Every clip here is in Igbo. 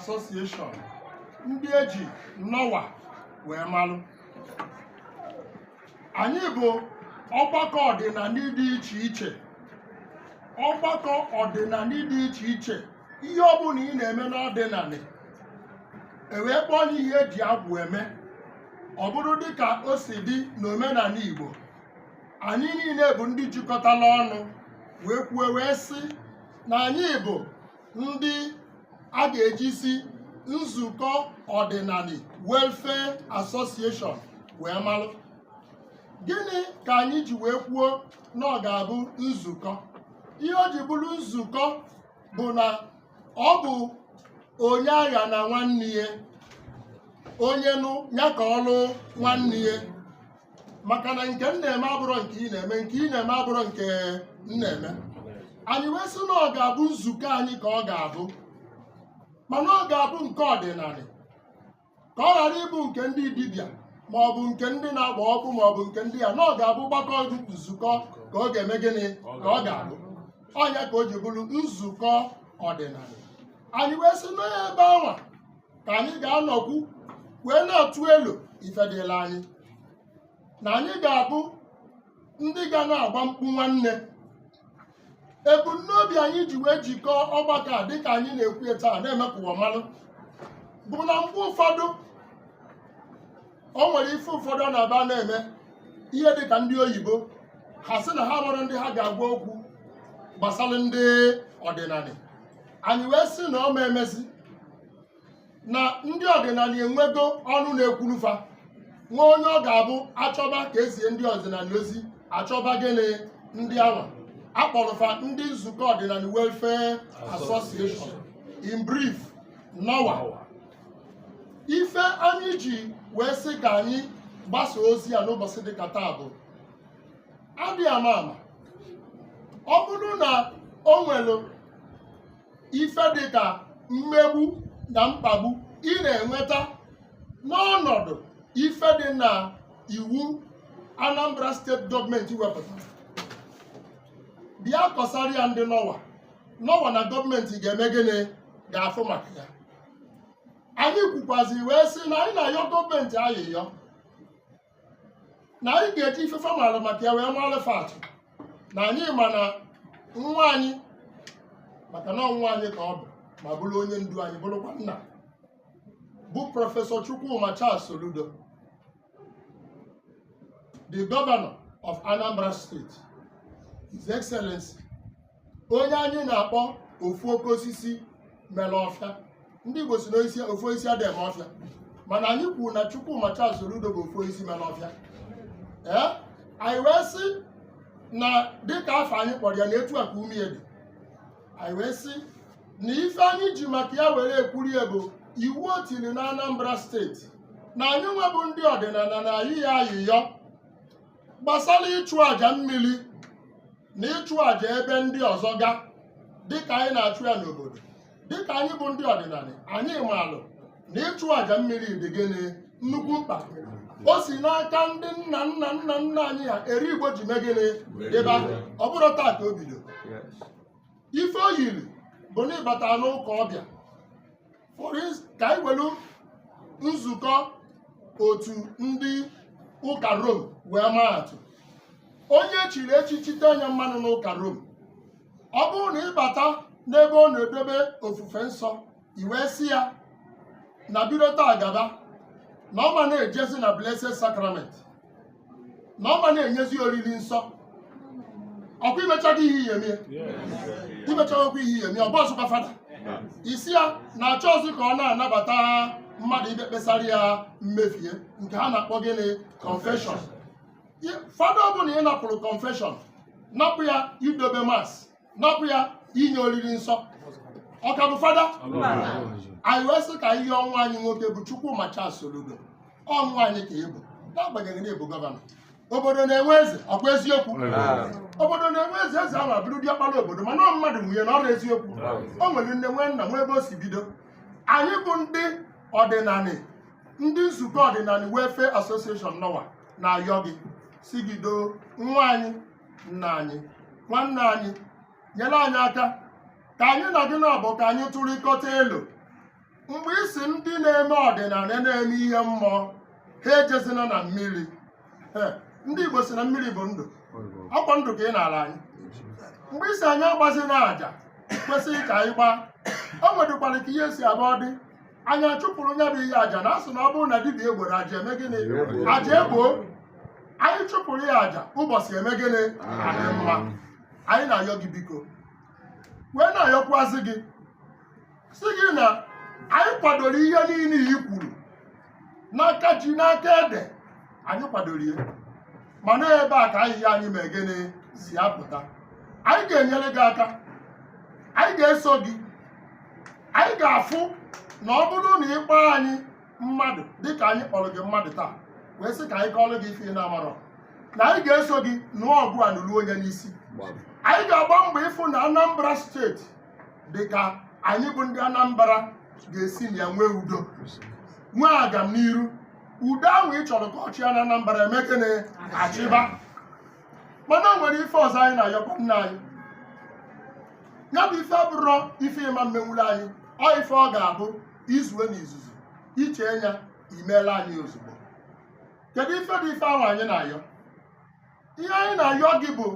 Association ndị eji NOWA wee malụ anyị bụ ọgbakọ ọdịnanị dị iche iche ọgbakọ ọdịnanị dị iche iche ihe ọbụla ị na-eme n'ọdịnanị ewee kpọọ ya ihe eji agwụ eme ọ bụrụ dịka o si dị n'omenanị Igbo anyị niile bụ ndị jikọtala ọnụ wee kwuo wee sị na anyị bụ ndị a ga-ejizi Nzukọ Ọdịnanị Welfare Association wee malụ gịnị ka anyị ji wee kwuo na ọ ga-abụ nzukọ ihe o ji bụrụ nzukọ bụ na ọ bụ onye aghana nwanne ya onye nụ ya ka ọ lụọ nwanne ya maka na nke m na-eme abụrọ nke ị na-eme nke ị na-eme abụrọ nke m na-eme anyị wee sị na ọ ga-abụ nzukọ anyị ka ọ ga-abụ mana ọ ga-abụ nke ọdịnanị ka ọ ghara ịbụ nke ndị dibịa ma ọ bụ nke ndị na-agba ọkụ ma ọ bụ nke ndị ya na ọ ga-abụ ọgbakọ nzukọ ka ọ ga-eme gịnị ka ọ ga-abụ ọ nya ka o ji bụrụ nzukọ ọdịnanị anyị wee sị na ebe anwa ka anyị ga-anọkwu wee na-atụ elo ife dịla anyị na anyị ga-abụ ndị ga na-agba mkpu nwanne ebumnobi anyị ji wee jikọọ ọgbakọ a dịka anyị na-ekwu ya taa na-eme ka ụwa malụ bụ na mgbe ụfọdụ o nwere ife ụfọdụ ọ na-abụ a na-eme ihe dịka ndị oyibo ha sị na ha enwerọ ndị ha ga-agwa okwu gbasara ndị ọdịnanị anyị wee sị na ọ ma emezi na ndị ọdịnanị enwego ọnụ na-ekwuru fa nwee onye ọ ga-abụ achọba ka ezie ndị ọdịnanị ozi achọba gịnị ndị anwa akpọrọ fa ndị Nzukọ Ọdịnanị Welfare Association in brief NOWA ife anyị ji wee sị ka anyị gbasa ozi a n'ụbọsị dịka taa bụ adị ama ama ọ bụrụ na o nwere ife dị ka mmegbu na mkpagbu ị na-enweta n'ọnọdụ ife dị na iwu Anambra steeti gọọmenti wepụtara bịa kọsara ya ndị NOWA NOWA na gọọmenti ga-eme gịnị ga-afụ maka ya anyị kwukwazi wee sị na anyị na-ayọ gọọmenti ayịyọ na anyị ga-eji ife fa maara maka ya wee maara fa atụ na anyị ma na nwa anyị maka na ọ nwa anyị ka ọ bụ ma bụrụ onye ndu anyị bụrụkwa nna bụ prọfesọ Chukwuma Charles Soludo the governor of Anambra State His Excellency onye anyị na-akpọ ofu oke osisi mere ọfịa ndị Igbo sị na ofu osisi adịghị eme ọfịa mana anyị kwuru na Chukwuma Charles Soludo bụ ofu osisi mere ọfịa ee anyị wee sị na dịka afa anyị kpọrọ ya na etu a ka ume ya dị anyị wee sị na ife anyị ji maka ya were ekwuru ya bụ iwu o tiri na Anambra steeti na anyị nwa bụ ndị ọdịnanị na-ayọ ya ayịyọ gbasara ịchụ àjà mmiri na ịchụ àjà ebe ndị ọzọ ga dịka anyị na-achụ ya n'obodo dịka anyị bụ ndị ọdịnanị anyị maalụ na ịchụ àjà mmiri dị gịnị nnukwu mkpa o si n'aka ndị nna nna nna nna anyị ha eri Igbo ji mee gịnị dịba ọ bụrọ taa ka o bido ife o yiri bụ na ị bata n'ụka ọbịa For ins- ka anyị welu nzukọ otu ndị ụka rom wee maa atụ onye e chiri echichi tee nya mmanụ n'ụka rom ọ bụrụ na ị bata n'ebe ọ na-edobe ofufe nsọ i wee sị ya na bido taa gaba na ọ ma na-ejezi na blessed sacrament na ọ ma na-enyezi oriri nsọ ọkwa i mechago ihe ị ya-eme ya i mechagokwa ihe ị ya-eme ya ọ bụrọzịkwa fada ị sị ya na achọrọzị ka ọ na-anabata mmadụ ịbịa ekpesara ya mmefie nke ha na-akpọ gịnị confession fada ọ bụla ị napụrụ confession napụ ya idobe mas napụ ya inye oriri nsọ ọ ka bụ fada anyị wee sị ka a yọọ nwa anyị nwoke bụ Chukwuma Charles Soludo ọ nwa anyị ka ị bụ n'agbanyeghị na ị bụ gọvanọ obodo na-enwe eze ọkwa eziokwu obodo na-enwe eze eze ahụ abụrụ diọkpara obodo mana ọ mmadụ nwe nya na ọ bụrọ eziokwu o nwere nne nwee nna nwee ebe o si bido anyị bụ ndị ọdịnanị ndị nzukọ ọdịnanị welfare association NOWA na-ayọ gị sị gị doo nwa anyị nna anyị nwanne anyị nyere anyị aka ka anyị na gị nọdụ ka anyị tụrịkọta elo mgbe ị sị ndị na-eme ọdịnanị na-eme ihe mmụọ ha ejezina na mmiri Eh, ndị Igbo sị na mmiri bụ ndụ ọkwa ndụ ka ị naala anyị mgbe ị sị anyị agbazina aja kwesịrị ka anyị gbaa o nwedịkwara ka ihe si abụọ dị anyị achụpụrụ nya bụ ihe aja na asị na ọ bụrụ na dibịa egboro aja eme gịnị aja egbo anyị chụpụrụ ya aja ụbọchị eme gịnị adị mma anyị na-ayọ gị biko wee na-ayọkwazị gị sị gị na anyị kwadoro ihe niile i kwuru n'aka ji na aka ede anyị kwadoro ya mana ebe a ka ayịyọ anyị mee gịnị si apụta anyị ga-enyere gị aka anyị ga-eso gị anyị ga-afụ na ọ bụrụ na ị kpọọ anyị mmadụ dịka anyị kpọrọ gị mmadụ taa wee sị ka anyị kọọrọ gị ife ị na-amarọ na anyị ga-eso gị nụọ ọgụ a nụrụ onye n'isi anyị ga-agba mbọ ịfụ na anambra steeti dịka anyị bụ ndị anambra ga-esi na ya nwee udo nwee agamniru udo ahụ ị chọrọ ka ọ chịa na anambra emee gịnị achịba mana o nwere ife ọzọ anyị na-ayọkwa nna anyị ya bụ ife abụrọ ife ị ma-emenwuru anyị ọ ife ọ ga-abụ i zue na izuzu i chee nya i meela anyị ozugbo kedu ife bụ ife ahụ anyị na-ayọ ihe anyị na-ayọ gị bụ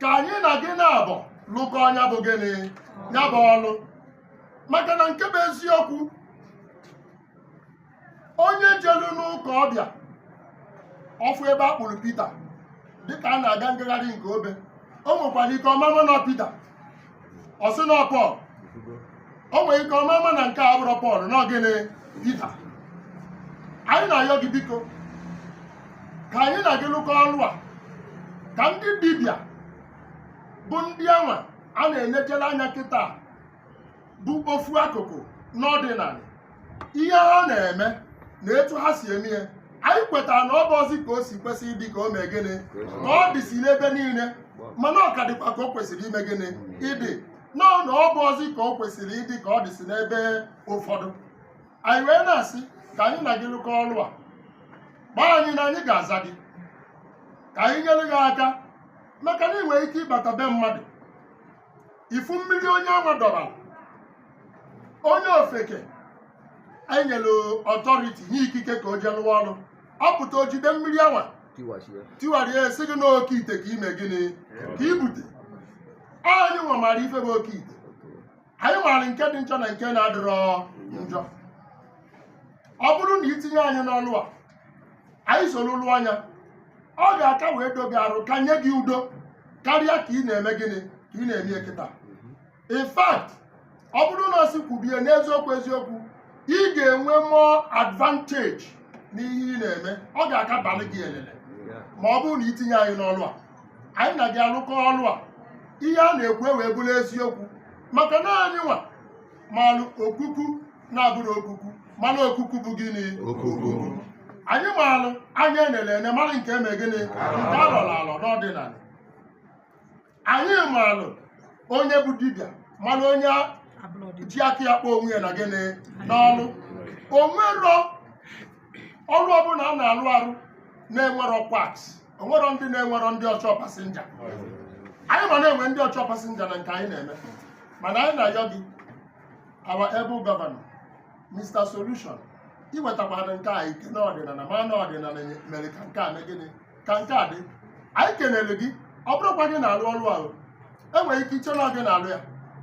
ka anyị na gị naabọ lụkọọ nya bụ gịnị nya bụ ọlụ maka na nke bụ eziokwu onye jelu n'ụka ọ bịa ọ fụ ebe a kpụrụ pita dịka a na-aga ngagharị nke obe o nwekwara ike ọ ma-ama na ọ pita ọ sị na ọ pọl o nwere ike ọ ma-ama na nke a abụrọ pọl na ọ gịnị pita anyị na-ayọ gị biko ka anyị na gị lụkọọ ọlụ a ka ndị dibịa bụ ndị anwa a na-enechela anya kịta bụ ofu akụkụ n'ọdịnanị ihe ha na-eme na etu ha si eme ihe anyị kwetara na ọ bụrọzi ka o si kwesị ịdị ka o mee gịnị ka ọ dịsi n'ebe niile mana ọ ka dịkwa ka o kwesịrị ime gịnị ịdị nọọ na ọ bụrọzi ka o kwesịrị ịdị ka ọ dịsi n'ebe ụfọdụ anyị wee na-asị ka anyị na gị lụkọọ ọrụ a gbaa anyị na anyị ga-aza gị ka anyị nyere gị aka maka na ị nwere ike ịbata be mmadụ ị fụ mmiri onye anwa dọbara onye ofeke e nyere authority nye ikike ka o jee lụwa ọrụ ọ pụta o jide mmiri anwa tiwara ya sị gị na oke ite ka i mee gịnị ka i bute anyị nwa maara ife bụ oke ite anyị maara nke dị njọ na nke na-adịrọ njọ ọ bụrụ na i tinye anyị n'ọlụ a anyị soro lụọ nya ọ ga-aka wee doo gị arụ ka nye gị udo karịa ka ị na-eme gịnị ka ị na-eme ya kịta in fact ọ bụrụ na a sị kwubie n'eziokwu eziokwu ị ga-enwe more advantage n'ihe ị na-eme ọ ga-aka baalụ gị elele ma ọ bụrụ na i tinye anyị n'ọlụ a anyị na gị alụkọọ ọlụ a ihe a na-ekwu ewee bụrụ eziokwu maka na anyị nwa malụ okuku na-abụrọ okuku malụ okuku bụ gịnị okuku anyị maalụ anya e nelu ene malụ nke eme gịnị nke a lọrọ alọ n'ọdịnanị anyị maalụ onye bụ dibịa malụ onye ji aka ya kpọọ onwe ya na gịnị n'ọlụ o nwerọ ọrụ ọbụla a na-alụ arụ na-enwerọ quacks onwero ndị na-enwero ndị ọchọ pasinja anyị ma na enwe ndị ọchọ pasinja na nke anyị na-eme mana anyị na-ayọ gị our able governor Mr. Solution i wetakwara nke a ike na ọdịnala ma na ọdịnala mere ka nke a mee gịnị ka nke a dị anyị kenere gị ọ bụrọkwa gị na-alụ ọrụ ahụ enwere ike iche na ọ gị na-alụ ya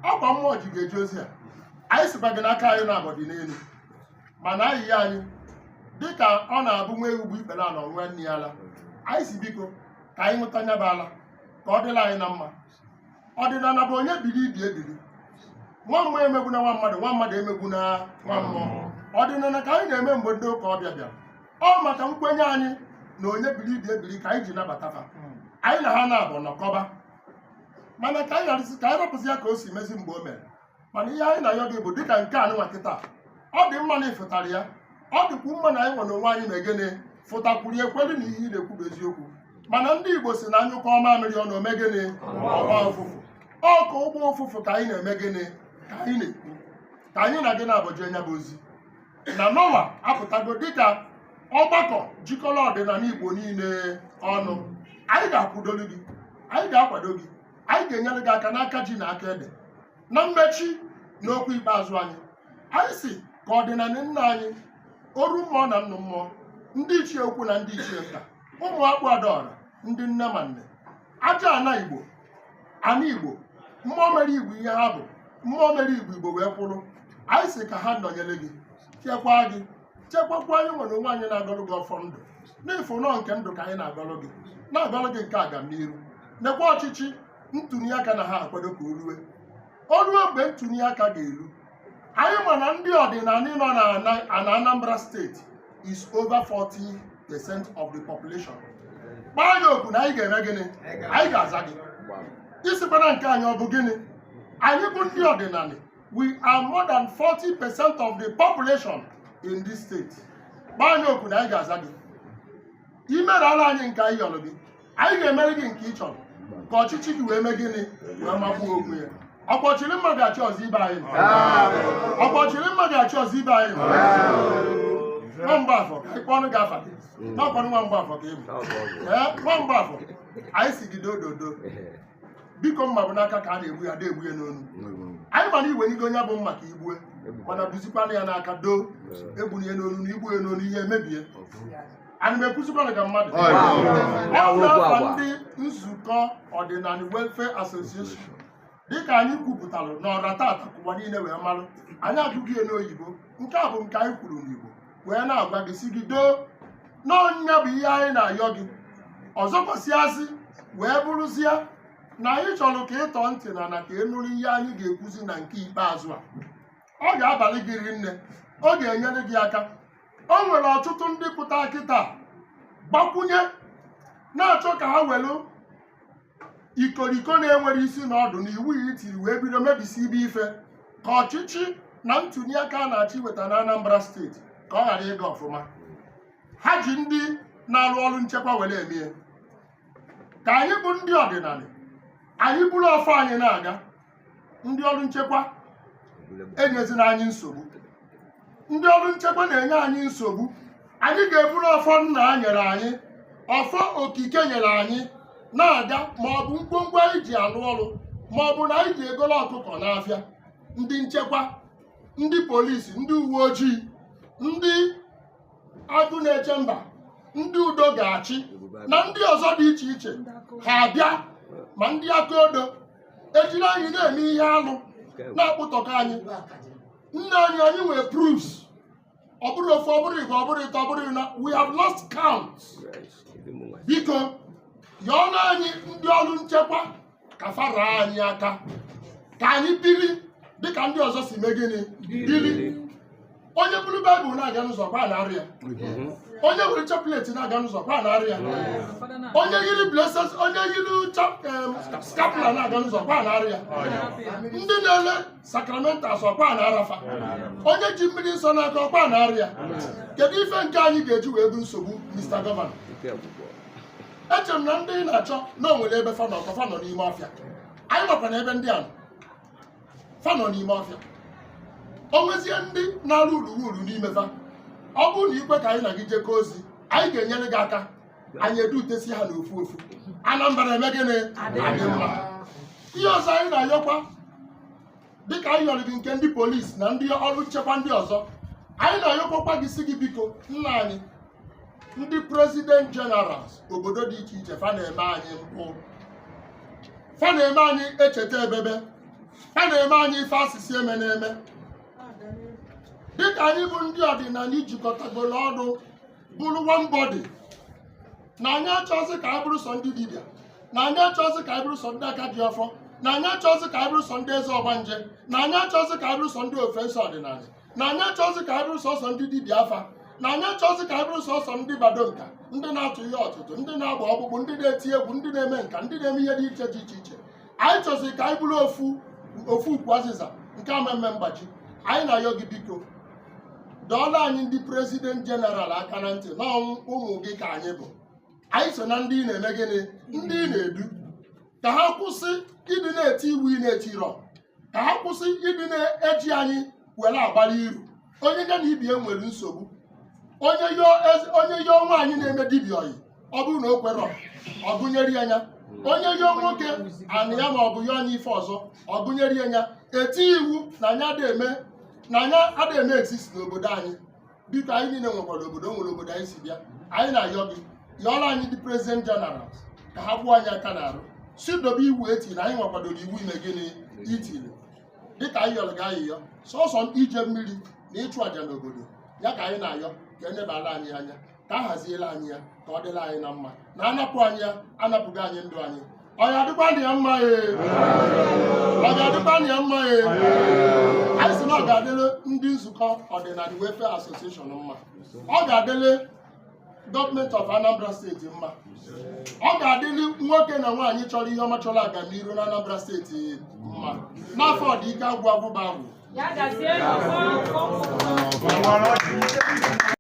ọkwa mmụọ ji gị eje ozi a anyị sịkwa gị na aka anyị naabọ dị n'elu mana ayịyọ anyị dịka ọ na-abụ nwa ewu gbuo ikpere ala ọ ṅụa nne ya ala anyị sị biko ka anyị ṅụta nya bụ ala ka ọ dịla anyị na mma ọdịnala bụ onye biri ibe ya biri nwa mmụọ emegbuna nwa mmadụ nwa mmadụ emegbuna nwa mmụọ ọdịnala ka anyị na-eme mgbe ndị ụka ọbịa bịara ọ maka nkwenye anyị na onye biri ibe ya biri ka anyị ji nabata fa anyị na ha naabọ nọkọba mana ka anyị gharịsị ka anyị rapụzi ya ka o si mezi mgbe o mere mana ihe anyị na-ayọ gị bụ dịka nke a nwa kịta ọ dị mma na ị fụtara ya ọ dịkwu mma na anyị nwa n'onwe anyị mee gịnị fụtakwuru ekwere na ihe ị na-ekwu bụ eziokwu mana ndị Igbo sị na a nyụkọọ mamịrị ọnụ o mee gịnị ọ gbọọ ụfụfụ ọ ka ọ gbọọ ụfụfụ ka anyị na-eme gịnị ka anyị na-ekwu ka anyị na gị naabọ jee nya bụ ozi na nọwa apụtago dịka ọgbakọ jikọrọ ọdịnala Igbo niile ọnụ anyị ga-akwụdolu gị anyị ga-akwado gị anyị ga-enyere gị aka n'aka ji na aka ede na mmechi na okwu ikpeazụ anyị anyị sị ka ọdịnala nna anyị oru mmụọ na nnụ mmụọ ndị ichie ukwu na ndị ichie nta ụmụ ọkpụ adaọra ndị nne ma nne aja ana igbo ana igbo mmụọ mere igbo ihe ha bụ mmụọ mere igbo igbo wee kwụrụ anyị sị ka ha nọnyere gị chekwaa gị chekwakwa anyị nwa n'onwe anyị na-agọlụ gị ọfọ ndụ n'ifi na ọ nke ndụ ka anyị na-agọlụ gị na-agọlụ gị nke agamniru nekwa ọchịchị ntụliaka na ha akwado ka o rue o rue mgbe ntụliaka ga-eru anyị ma na ndị ọdịnala nọ na Ana- na Anambra steeti is over 40 percent of the population kpọọ anyị oku na anyị ga-eme gịnị anyị ga-aza gị ị sịkwana nke anyị ọ bụ gịnị anyị bụ ndị ọdịnala we are more than 40 percent of the population in this state kpọọ anyị oku na anyị ga-aza gị i meela anyị nke anyị yọrọ gị anyị ga-emere gị nke ị chọrọ ka ọchịchị gị wee mee gịnị wee magbuo onwe ya ọkwa ọchịrị mma ga-achị ọzọ ibe anyị nọ. ọkwa ọchịrị mma ga-achị ọzọ ibe anyị nọ. nwa mgbafọ ka anyị kpọnụ gị afa gị n'ọkwanụ nwa mgbafọ ka ị bụ ee nwa mgbafọ anyị sị gị dododo biko mma bụ n'aka ka a na-egbu ya a da egbu ya n'onu anyị ma na i weligo nya bụ mma ka i gbue mana gbuzikwanụ ya n'aka doo egbuna ya n'onu na i gbue ya n'onu ihe emebie ana m ekwuzikwana ka mmadụ Ọ ya. ọ bụ afa ndị nzukọ ọdịnanị welfare association dịka anyị kwupụtara n'ọra taata ka ụwa niile wee marụ anyị agụghị ya n'oyibo nke a bụ nke anyị kwuru n'igbo wee na-agwa gị sị gị doo na ọ ya bụ ihe anyị na-ayọ gị ọzọkwasịazị wee bụrụzie na anyị chọrọ ka ị tọọ ntị n'ana ka ị nụrụ ihe anyị ga-ekwuzi na nke ikpeazụ a ọ ga-abalị gị rinne ọ ga-enyere gị aka o nwere ọtụtụ ndị pụta kịtaa gbakwunye na-achọ ka ha welu ikoriko na-enwerọ isi na ọdụ na iwu ya i tiri wee bido mebisibe ife ka ọchịchị na ntuli aka a na-achọ iweta na Anambra steeti ka ọ ghara ịga ọfụma ha ji ndị na-arụ ọrụ nchekwa were emie ka anyị bụ ndị ọdịnanị anyị buru ọfọ anyị na-aga ndị ọrụ nchekwa enyezina anyị nsogbu ndị ọrụ nchekwa na-enye anyị nsogbu anyị ga-eburu ọfọ nna nyere anyị ọfọ okike nyere anyị na-aga ma ọ bụ ngwongwo anyị ji alụ ọrụ ma ọ bụ na anyị ji egolo ọkụkọ n'afịa ndị nchekwa ndị polisi ndị uwe ojii ndị agụ na-eche mba ndị udo ga-achị na ndị ọzọ dị iche iche ha abịa ma ndị aka odo ejiri anyị na-eme ihe alụ na-akpụtọka anyị nna anyị anyị nwere proofs ọ bụrọ ofu ọ bụrọ ịbụa ọ bụrọ ịtọ ọ bụrọ ịnọ we have lost count biko yọọlụ anyị ndị ọrụ nchekwa ka fa raa anyị aka ka anyị biri dịka ndị ọzọ si mee gịnị biri onye buru baịbụl na-aga n'ụzọ ọkwa a na-ara ya onye were chaplet na-aga n'ụzọ ọkwa a na-ara ya onye yiri bleses onye yiri chap- em, skapula na-aga n'ụzọ ọkwa a na-ara ya ndị na-ele sacramentals ọkwa a na-ara fa onye ji mmiri nsọ n'aka ọkwa a na-ara ya kedu ife nke anyị ga-eji wee bụ nsogbu mr gọvanọ eche m na ndị ị na-achọ na o nwere ebe fa nọ ka fa nọ n'ime ọfịa anyị makwa na ebe ndị a nọ. fa nọ n'ime ọfịa o nwezie ndị na-arụ urughuru n'ime fa ọ bụrụ na i kwe ka anyị na gị jekọọ ozi anyị ga-enyere gị aka anyị edutesi ha n'ofu ofu anambra eme gịnị adị mma ihe ọzọ anyị na-ayọkwa dịka anyị yọrọ gị nke ndị polisi na ndị ọrụ nchekwa ndị ọzọ anyị na-ayọkwakwa gị sị gị biko nna anyị ndị president generals obodo dị iche iche fa na-eme anyị mpụ fa na-eme anyị echeta ebebe fa na-eme anyị ife a sị sị emena eme dịka anyị bụ ndị ọdịnanị jikọtagoro ọnụ bụrụ one body na anyị achọzi ka anyị bụrụ sọ ndị dibịa na anyị achọzi ka anyị bụrụ sọ ndị aka ji ọfọ na anyị achọzi ka anyị bụrụ sọ ndị eze ọgbanje na anyị achọzi ka anyị bụrụ sọ ndị ofesi ọdịnanị na anyị achọzi ka anyị bụrụ sọsọ ndị dibịa afa na anyị achọzi ka anyị bụrụ sọsọ ndị bado nka ndị na-atụ ihe ọtụtụ ndị na-agba ọkpụkpụ ndị na-eti egwu ndị na-eme nka ndị na-eme ihe dị iche dị iche iche anyị chọzi ka anyị bụrụ ofu ukwu azịza nke amemme mgbaji anyị na-ayọ gị biko dọọla anyị ndị prezident jeneral aka na ntị na ọ bụ ụmụ gị ka anyị bụ anyị so na ndị ị na-eme gịnị ndị ị na-edu ka ha kwụsị ịdị na-eti iwu ị na-etirọ ka ha kwụsị ịdị na-eji anyị were agbara iru onye ya na ibie nwere nsogbu onye yọọ nwaanyị na-eme dibịa ọyị ọ bụrụ na o kwerọ ọ gụnyere ya nya onye yọọ nwoke anị ya ma ọ bụ ya onye ife ọzọ ọ gụnyere ya nya eti iwu na anyị ada eme na anyị ada eme exist n'obodo anyị biko anyị niile nwekwara obodo o nwere obodo anyị si bịa anyị na-ayọ gị yọọla anyị ndị prezident jeneral ka ha kwụọ anyị aka n'arụ si dobe iwu etiri na anyị nwa kwadoro iwu i me gịnị i tiri dịka anyị yọrọ gị ayịyọ sọsọ ije mmiri na ịchụ àjà n'obodo ya ka anyị na-ayọ ka enebala anyị anya ka a haziela anyị ya ka ọ dịla anyị na mma na anapụ anyị ya anapụgo anyị ndụ anyị ọ ga-adịkwa na ya mma ee ọ ga-adịkwa na ya mma ee anyị sị na ọ ga-adịle ndị nzukọ ọdịnala welfare association mma ọ ga-adịle gọọmenti of anambra steeti mma ọ ga-adịli nwoke na nwaanyị chọrọ ihe ọma chọrọ agamniru na anambra steeti mma n'afa ọdịike agwụ agwụba agwụ